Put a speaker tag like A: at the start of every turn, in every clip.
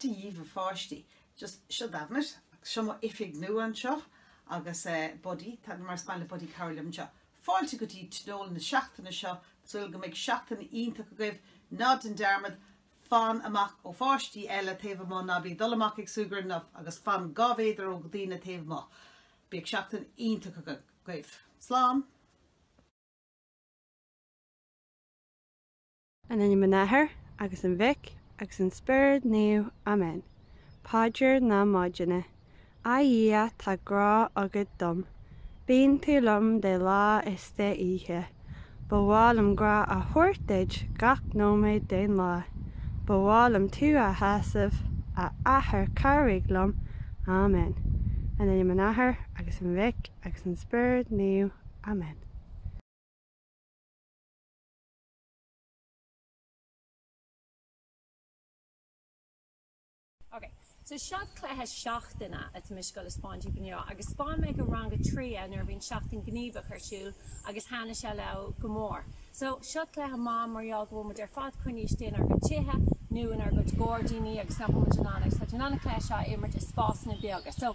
A: Dia dhaoibh a pháistí. Seo Damhnait. Seo mo oifig nua anseo agus eh Buddy, tá mar is maith le Buddy cabhair liom anseo. Fáilte go dtí tionól na seachtaine seo. Súil go mbeidh seachtain iontach agaibh. Ná déan dearmad, fan amach ó pháistí eile taobh amuigh, ná bí ag dul amach ag súgradh leo agus fan dhá mhéadar ó dhaoine taobh amuigh. Bíodh seachtain iontach agaibh. Slán! In ainm an Athar agus an Mhic agus an Spioraid Naoimh. Amen. Paidir na Maidine. A Dhia tá grá agat dom. Bíonn tú liom de lá is de oíche. Ba mhaith liom grá a thabhairt duit gach nóiméad den lá. Ba mhaith liom tú a shásamh, a Athair cabhraigh liom. Amen. In ainm an Athar agus an Mhic agus an Spioraid Naoimh. Amen. Ok, so seo cluiche seachtaine atá mise ag goil a spáint daoibh inniu agus spáin mé do rang a trí é nuair a bhí an seachtain gníomhach ar siúl agus thaithnigh sé leo go mór. So seo cluiche maith mar gheall go bhfuil muid ar fad coinnithe istigh inár gcuid tithe nó inár gcuid gairdíní agus nach bhfuil muid in ann agus tá muid in ann an cluiche seo a imirt i spásanna beaga. So.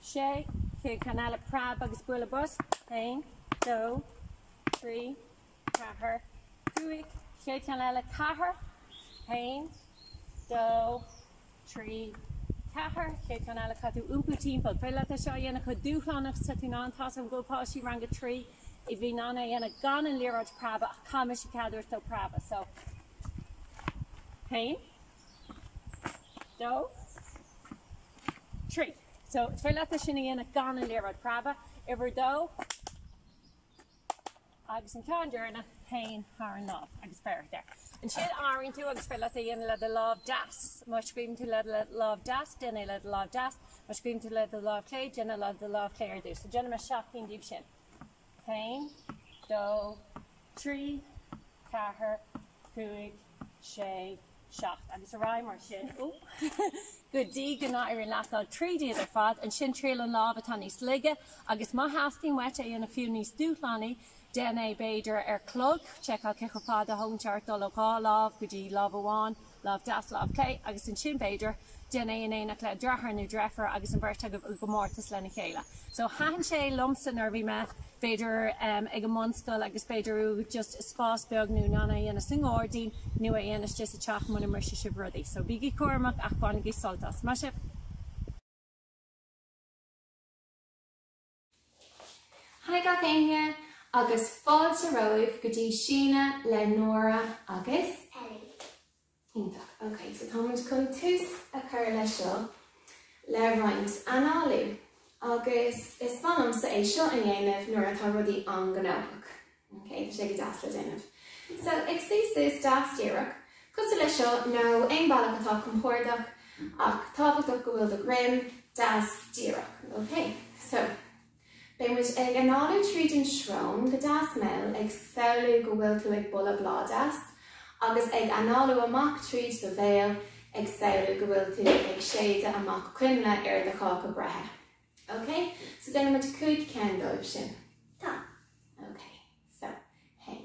A: sé, chéad cheann eile, preab agus bualadh bos, aon, dó, trí, ceathair, cúig, chéad cheann eile, ceathair, haon, dó, trí, ceathair, chéad cheann eile, caithfidh tú iompú timpeall, is féidir leat é seo a dhéanamh chomh dúshlánach is tá tú in ann, tá a fhios agam go raibh páistí rang a trí a bhí in ann é a dhéanamh gan an liathróid preabadh ach caithfidh mise cead a thabhairt dó preabadh so, haon. dó, trí. So, is féidir leat é sin a dhéanamh gan an liathróid preabadh. Uimhir a dó, agus an ceann deireanach, téann faoin an lámh agus beir air. Ansin athraíonn tú agus is féidir leat é a dhéanamh le do lámh deas. Má scríobhann tú le do lámh deas, déan é le do lámh deas. Má scríobhann tú le do lámh chlé, déan é le do lámh chlé ar dtús. So, déanfaidh mé seacht gcinn díobh sin. A haon, dó, trí, ceathair, cúig, sé, seacht agus ar aghaidh mar sin go dtí go n-éiríonn leat dul tríd iad ar fad. Ansin triail an lámh atá níos laige agus má theastaíonn uait é a dhéanamh fiú níos dúshlánaí, déan é b'fhéidir ar chlog. Seiceáil cé chomh fada a thógann sé ort dul ó dhá lámh go dtí lámh amháin. Lámh deas, lámh clé, agus ansin, b'fhéidir, déan é in éineacht le dreatháir nó dreifiúr agus an bheirt agaibh i gcomórtas lena chéile. So, thaitin sé liomsa nuair a bhí mé, b'fhéidir, em, ag an mbunscoil agus níl uait ach just spás beag, tá tú in ann é a dhéanamh sa ngáirdín nó é a dhéanamh istigh sa teach muna mbrisfidh sibh rudaí. So, bígí cúramach ach bainigí sult as. Maith sibh! Haigh gach éinne agus fáilte romhaibh go dtí síneadh le Nóra agus. Ellie. Iontach. Ok, so táimid chun tús a chur leis seo le roinnt análú agus is mhaith liomsa é seo a dhéanamh nuair atá rudaí an-ghnóthach. OK, tá sé go deas le déanamh. So, ag suí suas deas díreach, cosúil le seo, nó aon bealach atá compordach, ach tábhachtach go bhfuil do dhroim deas díreach. OK, so, beidh muid ag análú tríd an srón go deas mall, ag samhlú go bhfuil tú ag boladh bláth deas, agus ag análú amach tríd do bhéal, ag samhlú go bhfuil tú ag séideadh amach coinnle ar do cháca breithe. Ok, so déanfaidh muid cúig ceann dóibh sin. Tá. Ok, so, haon.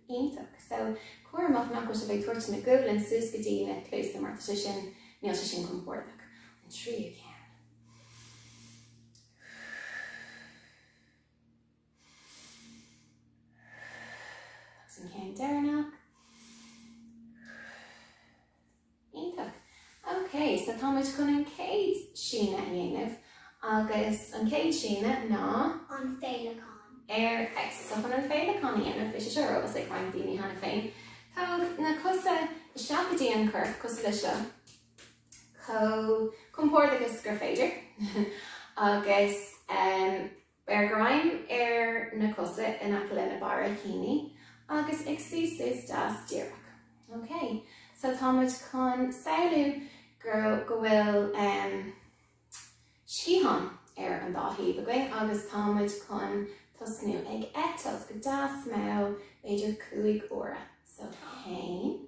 A: Iontach, so bí cúramach nach bhfuil sibh ag tabhairt na guaillí suas go dtí na cluasa mar tá sé sin, níl sé sin compordach. An tríú ceann. Agus an ceann deireanach. Iontach. Ok, so táimid chun an chéad síneadh a dhéanamh agus an chéad síneadh ná. An féileacán. Ar, Excellent, so chun an féileacán a dhéanamh, beidh sé seo ar eolas ag roinnt daoine cheana féin. Tóg na cosa isteach go dtí an corp cosúil le seo. Chomh compordach agus gur féidir. Agus. Beir greim ar na cosa in aice le na barraicíní agus ag suí suas deas díreach. Ok, so tá muid chun samhlú go bhfuil um, sciatháin ar an dá thaobh againn agus tá muid chun tosnú ag eitilt go deas mall b'fhéidir cúig uaire. So haon,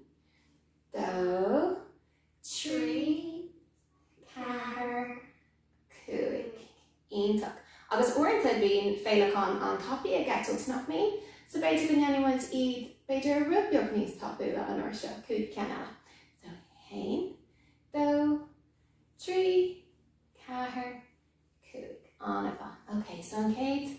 A: dó, trí, ceathair, Cúig. Iontach. Agus uaireanta bíonn féileacáin an-tapaidh ag eitilt, nach mbíonn? So b'fhéidir go ndéanfaidh muid iad b'fhéidir rud beag níos tapúla an uair seo. Cúig ceann eile. So haon, dó, trí, ceathair, cúig. An-mhaith. Ok, so an chéad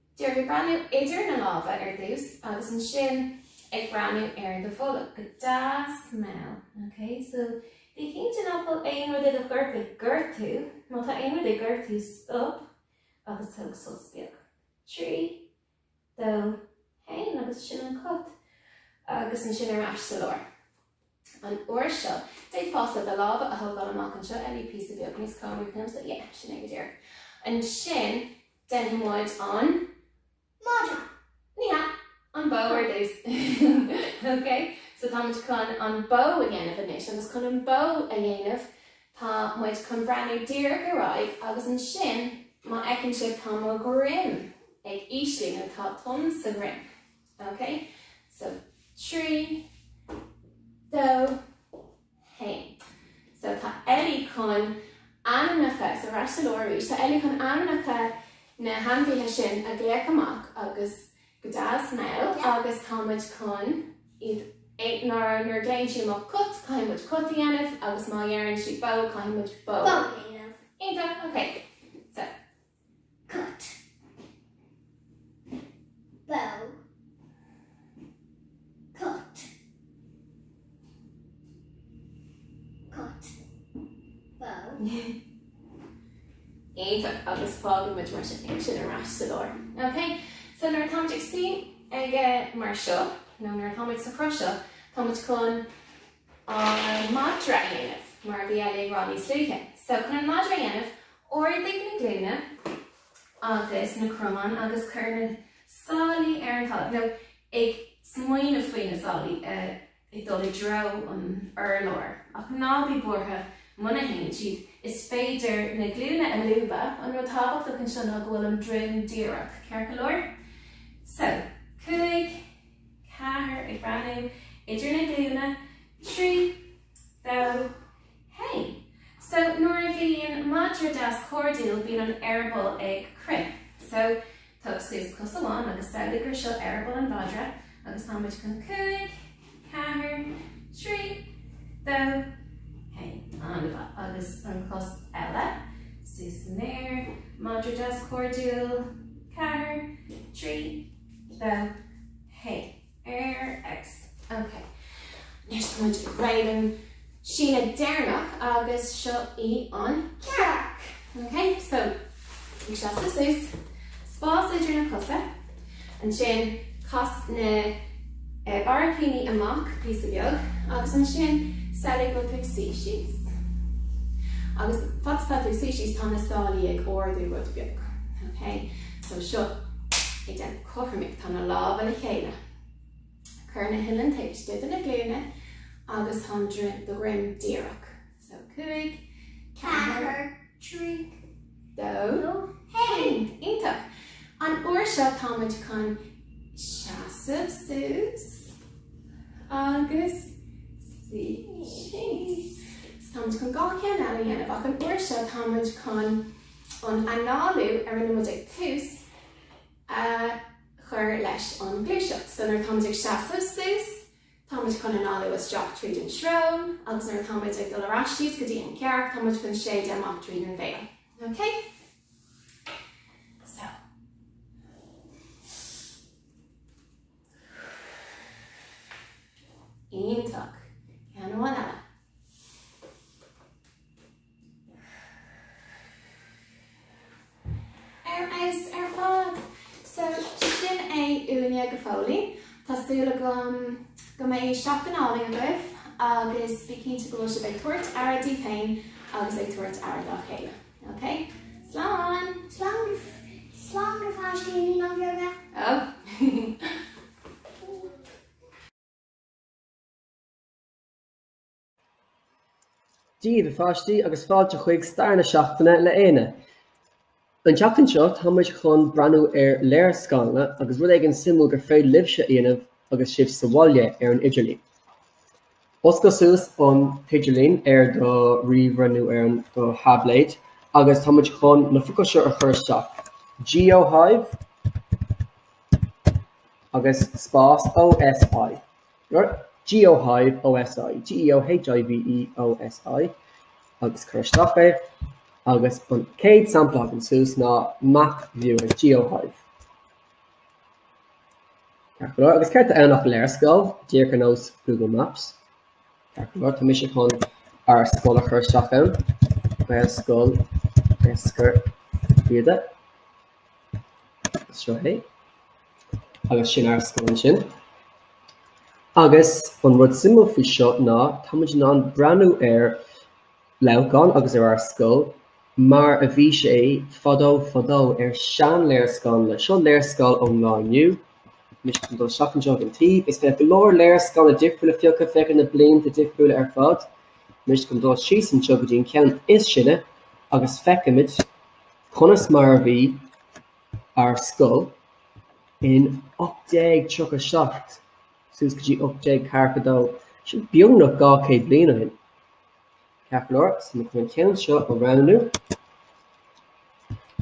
A: Díreach ag breathnú idir na lámha ar dtús agus ansin ag breathnú ar do bholg. Go deas mall, ok? So, bí cinnte nach bhfuil aon rud i do chorp ag gortú. Má tá aon rud ag gortú, stop agus tóg sos beag. Trí, dó, haon agus sin an cat. Agus ansin ar ais sa lár. An uair seo, b'fhéidir fosta na lámha a thógáil amach anseo a wee píosa beag níos cónaí agamsa, yeah, sin é go díreach. Ansin, déanfaidh muid an. Madra! Ní hea, an bhó ar dtús. Ok, so tá muid chun an bó a dhéanamh anois agus chun an bó a dhéanamh tá muid chun breathnú díreach ar aghaidh agus ansin, má fheiceann sibh tá mo dhroim ag íslú nó tá tonn sa dhroim. Ok so trí dó haon so tá Ellie chun ainmneacha sorry, ceart go leor, arís tá Ellie chun ainmneacha na hainmhithe sin a ghlaoch amach agus go deas mall agus tá muid chun iad é nuair nuair a glaonn sí amach cat caithfidh muid cat a dhéanamh agus má deireann sí bó caithfidh muid bó a dhéanamh. Iontach ok so Cat. Bó. Cat. Cat. Bó. Iontach agus fágann muid mar sin ansin ar ais sa lár. Ok, so nuair atá muid ag suí aige mar seo nó nuair atá muid sa chruth seo tá muid chun an madra a dhéanamh, mar a bhí Ellie ag rá níos luaithe. So, chun an madra a dhéanamh, ardaigh na glúine agus na cromáin agus cuir na sálaí ar an talamh, nó ag smaoineamh faoi na sálaí ag dul i dtreo an urláir, ach ná bí buartha muna dtéann siad. Is féidir na glúine a lúbadh, an rud tábhachtach anseo ná go bhfuil an droim díreach, ceart go leor? So, cúig. ceathair, ag breathnú idir na glúine, trí, dó, haon. So, nuair a bhíonn madra deas cairdiúil bíonn an eireaball ag crith. So, tóg suas cos amháin agus samhlaigh gur seo eireaball an mhadra agus tá muid chun cúig, ceathair, trí, dó, haon. An-mhaith. Agus an chos eile, suas san aer, madra deas cairdiúil, ceathair, trí, dó, haon, relax. Ok. Anois tá muid ag iarraidh an síneadh deireanach agus seo í an cearc. Ok, so ag seasamh suas, spás idir na cosa, ansin cas na barraicíní amach píosa beag agus ansin samhlaigh go bhfuil tú ag suí síos. Agus fad is atá tú ag suí síos tá na sálaí ag ardú rud beag. Ok. So seo ag déanamh cothroime tá na lámha le chéile. Cuir na huilleann taobh istigh de na glúine agus tá an droim díreach. So 5, 4, 3, 2, 1. Iontach! An uair seo táimid chun seasamh suas agus táimid chun dhá cheann eile a dhéanamh ach an uair seo táimid chun an análú ar a mbeimid ag tús a chur leis an ngluaiseacht. So nuair atáimid ag seasamh suas, táimid chun análú isteach tríd an srón agus nuair atáimid ag dul ar ais síos go dtí an chearc, táimid chun séideadh amach tríd an bhéal. Ok? So. Iontach. Ceann amháin eile. Ar fheabhas ar fad! So, sin é uainne go fóill. Tá súil agam go mbeidh seachtain álainn agaibh agus bí cinnte go bhfuil sibh ag tabhairt aire díbh féin agus ag tabhairt aire dá chéile. Ok? Slán! Daoibh, a pháistí, agus fáilte chuig Stair na Seachtaine le Éanna. An tseachtain seo, tá muid chun breathnú ar léarscáileanna agus rud éigin suimiúil gur féidir libhse a dhéanamh agus sibh sa bhaile ar an idirlíon. Oscail suas an t-idirlíon ar do ríomhaire nó ar do thaibléad agus tá muid chun na focail seo a chur isteach. GeoHive agus spás OSI. GeoHive OSI, G-E-O-H-I-V-E OSI, agus cuir isteach é, agus an chéad sampla a thagann suas ná map viewer GeoHive. Ceart go leor, agus céard atá ann ach léarscáil, díreach ar nós Google Maps. Ceart go leor, tá mise chun ár scoil a chur isteach ann, Gaelscoil Eiscir Riada. Seo é. Agus sin ár scoil ansin. Agus an rud suimiúil faoi seo ná táimid in ann breathnú ar Leamhcán agus ar ár scoil mar a bhí sé fadó fadó, ar seanléarscáileanna. Seo léarscáil ón lá inniu. Anois tá mé ag dul isteach anseo ag an taobh. Is féidir go leor léarscáileanna difriúla a phiocadh, féach ar na blianta difriúla ar fad. Anois tá mé ag dul síos anseo go dtí an ceann is sine agus feicimid conas mar a bhí ar scoil in 1837 suas go dtí 1842, sin beagnach 200 bliain ó shin. Ceart go leor so, táim chun an ceann seo a roghnú.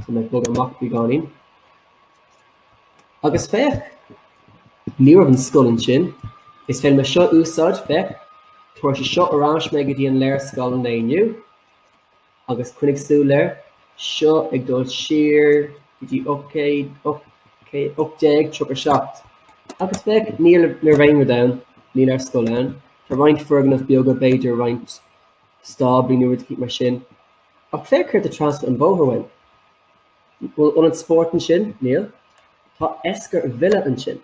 A: Tá mé ag bogadh amach beagáinín. Agus féach, ní raibh an scoil ansin, is féidir liom é seo a úsáid féach, tabharfaidh sé seo ar ais mé go dtí an léarscáil inniu, agus coinnigh súil air, seo ag dul siar go dtí 1837. Agus féach, ní raibh aon rud ann, níl ár scoil ann, tá roinnt foirgneamh beaga, b'fhéidir roinnt stáblaí nó rud mar sin. Ach féach céard atá trasna an bóthar uainn. Bhfuil ionad spóirt ansin? Níl. Tá Esker Villa ansin.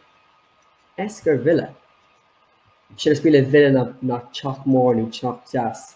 A: Esker Villa. So is brí le villa ná teach mór nó teach deas.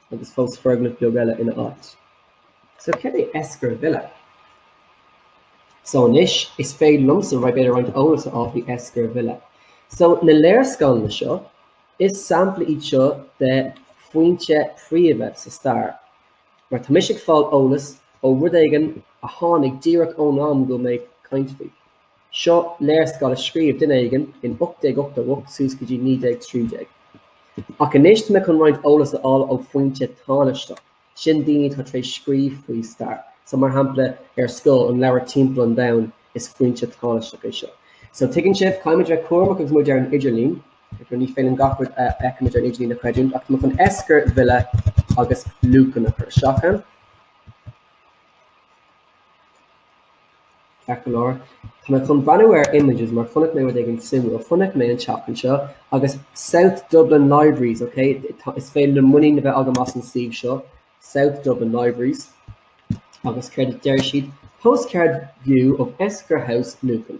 A: agus fós foirgneamh beag eile ina áit. So céard é Esker Villa? So anois is féidir liomsa b'fhéidir roinnt eolais a fháil faoi Esker Villa. So na léarscáileanna seo, is samplaí iad seo de fhoinse phríomha sa stair, mar tá mise ag fáil eolas ó rud éigin a tháinig díreach ón am go mbeidh mé ag caint faoi. Seo léarscáil a scríobh duine éigin in 1888 suas go dtí 1913. Ach anois tá mé chun roinnt eolas a fháil ó fhoinse thánaisteach, sin daoine atá tar éis scríobh faoin stair. So, mar shampla, ar scoil, an leabhar Timpeall an Domhain, is foinse tánaisteach é seo. So, tuigeann sibh, caithfimid bheith cúramach agus muid ar an idirlín, ní féidir linn gach rud a fheicimid ar an idirlín a chreidiúint, ach tá mé chun Esker Villa agus Lucan a chur isteach. Ceart go leor, tá mé chun breathnú ar images mar chonaic mé rud éigin suimiúil. Chonaic mé an ceann seo agus South Dublin Libraries, ok? Tá, is féidir liom muinín a bheith agam as an suíomh seo, South Dublin Libraries, agus céard a deir siad? Postcard view of Esker House, Lucan.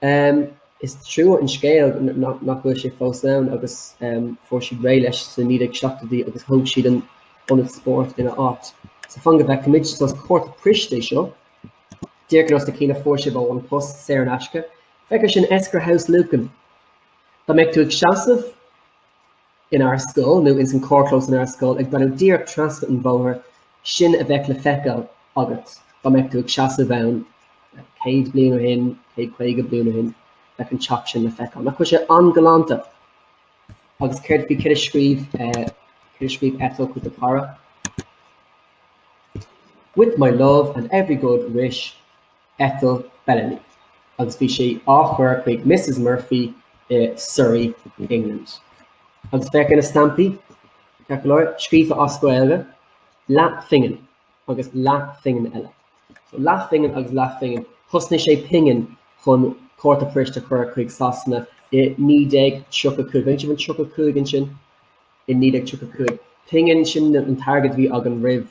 A: Em is trua an scéal nach bhfuil sé fós ann agus em fuair siad réidh leis sna 1970idí agus thóg siad an ionad spóirt ina áit. So fan go bhfeicimid so is cárta poist é seo. Díreach ar nós na cinn a fuair sibh ó An Post saor in aisce. Feicfear sin Esker House Lucan. Dá mbeadh tú ag seasamh. inár scoil nó ins an carrchlós inár scoil ag breathnú díreach trasna an bhóthair, sin a bheadh le feiceáil agat dá mbeadh tú ag seasamh ann céad bliain ó shin, céad caoga bliain ó shin, bheadh an teach sin le feiceáil. Nach bhfuil sé an-galánta agus céard faoi céard a scríobh eh, céard a scríobh Etta chuig a cara. With my love and every good wish, Ethel Bellamy, agus bhí sé á chur chuig Misses Murphy i Surrey, England. Agus féach ar na stampaí, ceart go leor, scríofa as Gaeilge, leathphingin agus leathphingin eile. So leathphingin agus leathphingin, chosnaigh sé pingin chun cárta poist a chur chuig Sasana i 1935, feiceann sibh an 35 ansin i 1935. Pingin sin an t-airgead a bhí againn roimh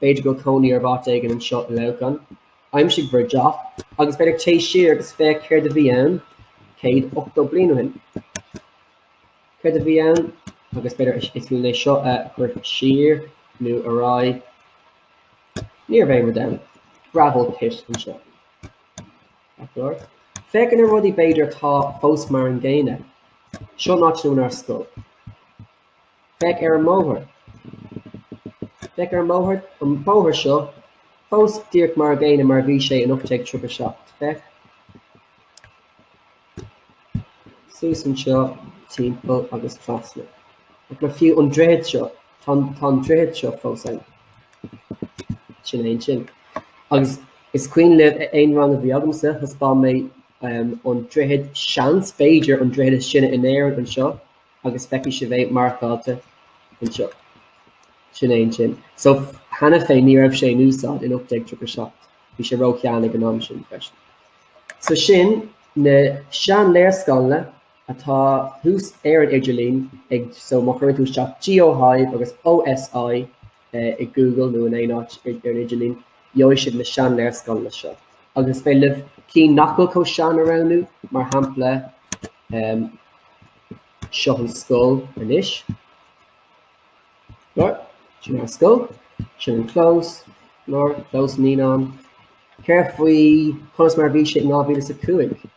A: b'fhéidir go bhfuil cónaí oraibh áit éigin anseo i Leamhcán. Aimsigh bhur dteach agus b'fhéidir téigh siar agus féach céard a bhí ann céad ochtó bliain ó shin. Céard a bhí ann agus b'fhéidir is fiú é seo a chur siar nó ar aghaidh. Ní raibh faic ann. Gravel pit anseo. Ba chóir. Féachaint ar na rudaí b'fhéidir atá fós mar an gcéanna. Seo an áit in ár scoil. Féach ar an mbóthar. Féach ar an mbóthar, an bóthar seo, fós díreach mar an gcéanna mar a bhí sé in 1837. Féach suas anseo timpeall agus trasna. Agus fiú an droichead seo, tá an, tá an droichead seo fós ann. Sin é ansin. Agus is cuimhin le haon rang a bhí agamsa, thaispeáin mé, ehm, an droichead, seans, b'fhéidir, an droichead is sine in Éirinn anseo. agus feicfidh sibh é marcáilte anseo. Sin é ansin. So cheana féin ní raibh sé in úsáid in 1837. Bhí sé róshean ag an am sin freisin. So sin na sean-léarscáileanna atá thuas ar an idirlíon ag, so má chuireann tú isteach GeoHive agus OSI i Google nó in aon áit ar an idirlíon, gheobhaidh sibh na sean-léarscáileanna seo. Agus is féidir libh cinn nach bhfuil chomh sean a roghnú, mar shampla, Seo an scoil anois. Ceart go leor, sin ár scoil. Sin an clós. Ceart go leor, Clós Naíonán. Céard faoi conas mar a bhí sé in 2005?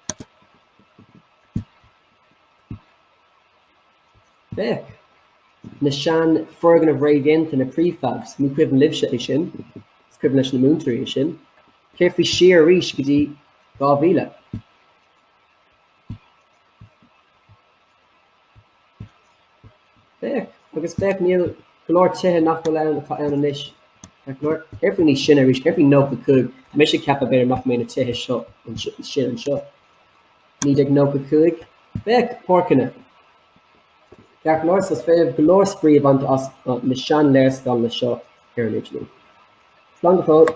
A: Féach. Na sean foirgnimh réamhdhéanta, na prefabs, ní cuimhin libhse é sin. Is cuimhin leis na múinteoirí é sin. Céard faoi siar arís go dtí 2000? Féach agus féach, níl go leor tithe nach bhfuil ann atá ann anois. Ceart go leor, céard faoi roimhe sin arís, céard faoi 95. Tá mise ag ceapadh b'fhéidir nach mbeidh na tithe seo sinne anseo. 1995. Féach, páirceanna. Ceart go leor, so is féidir go leor spraoi a bhaint as na sean-léarscáileanna seo ar an idirlíon. Slán go fóill.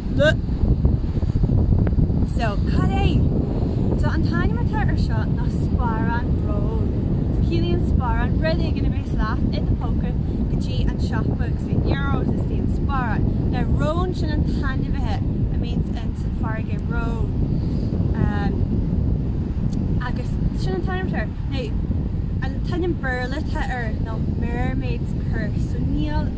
A: Bleh! So, cad é? So, an t-ainm atá ar seo ná sparán róin. So, ciallaíonn sparán rud éigin a bhéas leat i do phóca go dtí an siopa agus bhí Euros istigh sa sparán. Now, rón, sin an t-ainmhí a mbíonns in san farraige, rón. Ehm, agus sin an t-ainm atá air. Now, an t-ainm Béarla atá air ná mermaid's purse.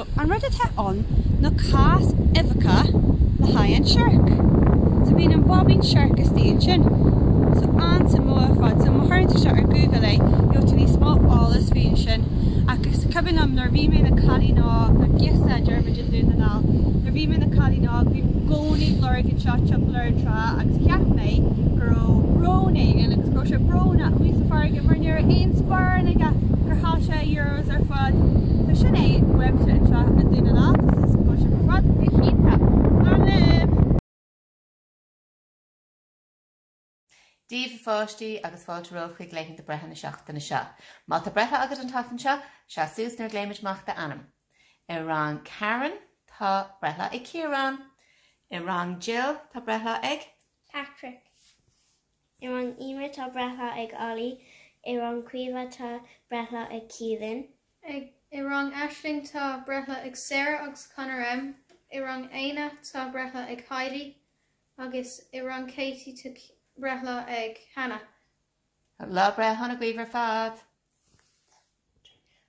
A: An rud atá ann ná cás uibheacha le haghaidh an siorc. So bíonn an baibín siorc istigh ansin. So an-suimiúil ar fad. So má chuardaíonn tú seo ar Google, gheobhaidh tú níos mó eolas faoi ansin. Ach is cuimhin liom nuair a bhí mé i mo chailín óg, nó girseach a deirimid i nDún na nGall, nuair a bhí mé i mo chailín óg, bhí mé i gcónaí ag lorg iad seo timpeall ar an trá agus cheap mé go raibh rón éigin agus go raibh sé brónach amuigh sa farraige mar ní raibh aon sparán aige gur chaill sé a Agus ar fad. So sin é uaimse anseo i nDún na nGall. Tá súil agam go bhfuil sibh ar fad go hiontach. Slán libh! Dia daoibh a pháistí agus fáilte romhaibh chuig laethanta breithe na seachtaine seo. Má tá breithlá agat an tseachtain seo, seas suas nuair a ghlaoimid amach d'ainm. I rang Karen, tá breithlá ag Ciarán. I rang Jill, tá breithlá ag Patrick. I rang Emma tá breithlá ag Ollie. I rang Caoimhe tá breithlá ag Keelan. I rang Aisling tá breithlá ag Sarah agus Conor M. I rang Éanna tá breithlá ag Heidi agus i rang Katie tá breithlá ag Hannah. Lá breithe sona daoibh ar fad!